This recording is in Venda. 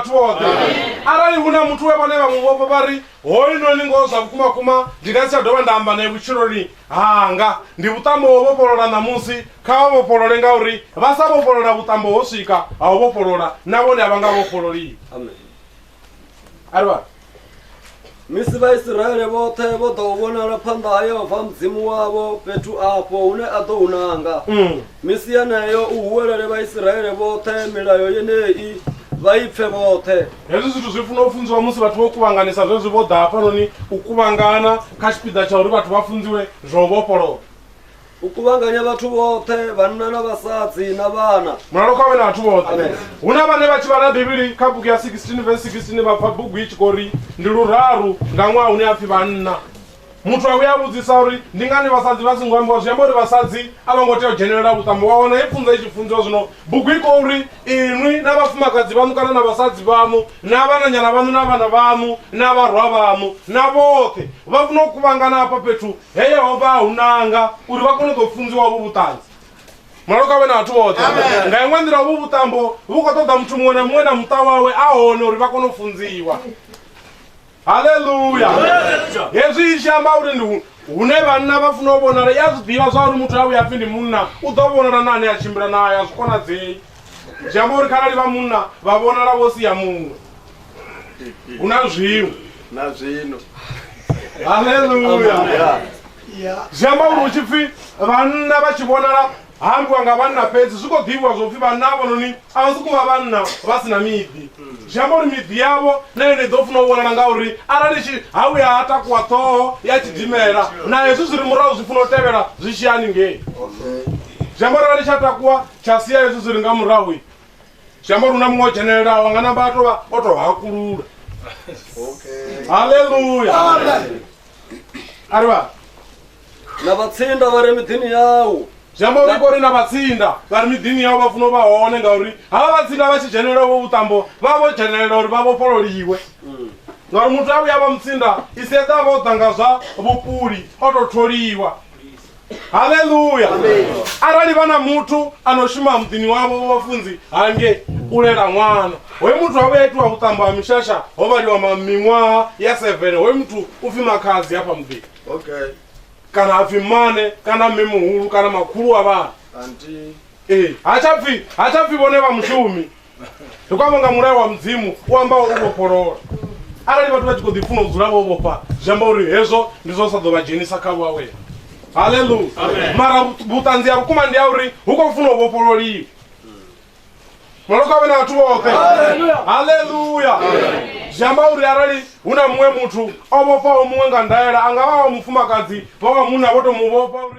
vhathu vhoṱhe arali hu na muthu we vhone vha mu vhofha vha ri hoyunoni ngoho zwa vhukumakuma ndi nga si tsha dovha nda amba naye vhutshiloni hanga ndi vhuṱambo ho vhofholola ṋamusi kha vha vhofholole ngauri vha sa vhofholola vhuṱambo ho swika ha u vhofholola na vhone a vha nga vhofhololiwi arivha Misi Vhaisiraele vhoṱhe vho ḓa u vhonala phanḓa ha Yehova Mudzimu wavho fhethu afho hune a ḓo hu nanga. Mm. Misi yeneyo u huwelele Vhaisiraele vhoṱhe milayo yeneyi vha i pfe vhoṱhe. hezwi zwithu zwi funa u funziwa musi vhathu vho kuvhanganisa zwezwi vho ḓa hafhanoni u kuvhangana kha tshipiḓa tsha uri vhathu vha funziwe zwa u vhofholowa u kuvhanganya vhathu vhoṱhe vhanna na vhasadzi na vhana mulalo kha wena vhathu vhoṱhe hu na vhane vha tshi vhala bivhili kha bugu ya 16 vs 16 vha pfa bugu i tshi khou ri ndi luraru nga ṅwaha hune a pfi vhanna muthu a vhuya a vhudzisa uri ndi ngani vhasadzi vha songo ambiwa zwi amba uri vhasadzi a vho ngo tea u dzhenelela vhuṱambo wa wana i pfunza i tshi funziwa zwino bugu i khou ri inwi na vhafumakadzi vhaṋu kana na vhasadzi vhaṋu na vhananyana vhaṋu na vhana vhaṋu na vharwa vhaṋu na vhoṱhe vha funa u kuvhangana hafha fhethu He Yehova a hu nanga uri vha kone u ḓo funziwa hovhu vhuṱanzi. Mulalo kha vhe na vhathu vhoṱhe. Nga iṅwe nḓila, hovhu vhuṱambo vhu khou ṱoḓa muthu muṅwe na muṅwe na muṱa wawe a hone uri vha kone u funziwa. Haleluya! Hezwi i tshi amba uri ndi hune vhanna vha funa u vhonala, i a zwi ḓivha zwa uri muthu a vhuya pfi ndi munna u ḓo vhonala na ane a tshimbila nae, a zwi konadzei. Zwi amba uri kharali vha munna vha vhonala vho sia muṅwe. hu na zwiṅwe na zwino haleluya zwi amba uri hu tshi pfi vhanna vha tshi vhonala ha ambiwa nga vhanna fhedzi zwi khou ḓivhiwa zwo pfi vhanna avhononi a vha sokou vha vhanna vha si na miḓi zwi amba uri miḓi yavho na yone i ḓo funa u vhonala ngauri arali tshi ha vhuya ha takuwa ṱhoho ya tshidimela na hezwi zwi ri murahu zwi funa u tevhela zwi tshi haningei zwi amba uri arali tsha takuwa tsha sia hezwi zwi ri nga murahu zwi amba uri hu na muṅwe o dzhenelelaho nga namba a tovha o to hakulula haleluya a ri vha na vhatsinda vha re miḓini yau zwi amba uri i kori na vhatsinda vha ri miḓini yau vha funa u vha hone ngauri havha vhatsinda vha tshi dzhenelela vho vhuṱambo vha vha vho dzhenelela uri vha vhofhololiwe ngauri muthu a vhuya vha mutsinda i si eḓa vha o ḓa nga zwa vhupuli o tou tholiwa haleluya arali vha na muthu ano shuma muḓini wavho wa vhafunzi hange u lela ṅwana hoyu muthu avha itiwa vhuṱambo ha mishasha ho vhaliwa ma- miṅwaha ya seven hoyu muthu u pfi makhadzi hafha muḓini Okay. kana ha pfi mmane kana mme muhulu kana makhulu wa vhana Auntie. ee ha tsha pfi ha tsha pfi vhone vha mushumi ndi khou amba nga mulayo wa mudzimu u amba u vhofholola arali vhathu vha tshi khou ḓi funa u dzula vho vhofha zwi amba uri hezwo ndi zwo sa ḓo vha dzhenisa kha vhuawela haleluya mara vhuṱanzi ha vhukuma ndi ya uri hu khou funa u vhofhololiwa maloko a vhe na vhathu vhoṱhe haleluya zwi amba uri arali hu na muṅwe muthu o vhofhaho muṅwe nga ndaela a nga vha wa mufumakadzi vha wa munna vho to mu vhofha uri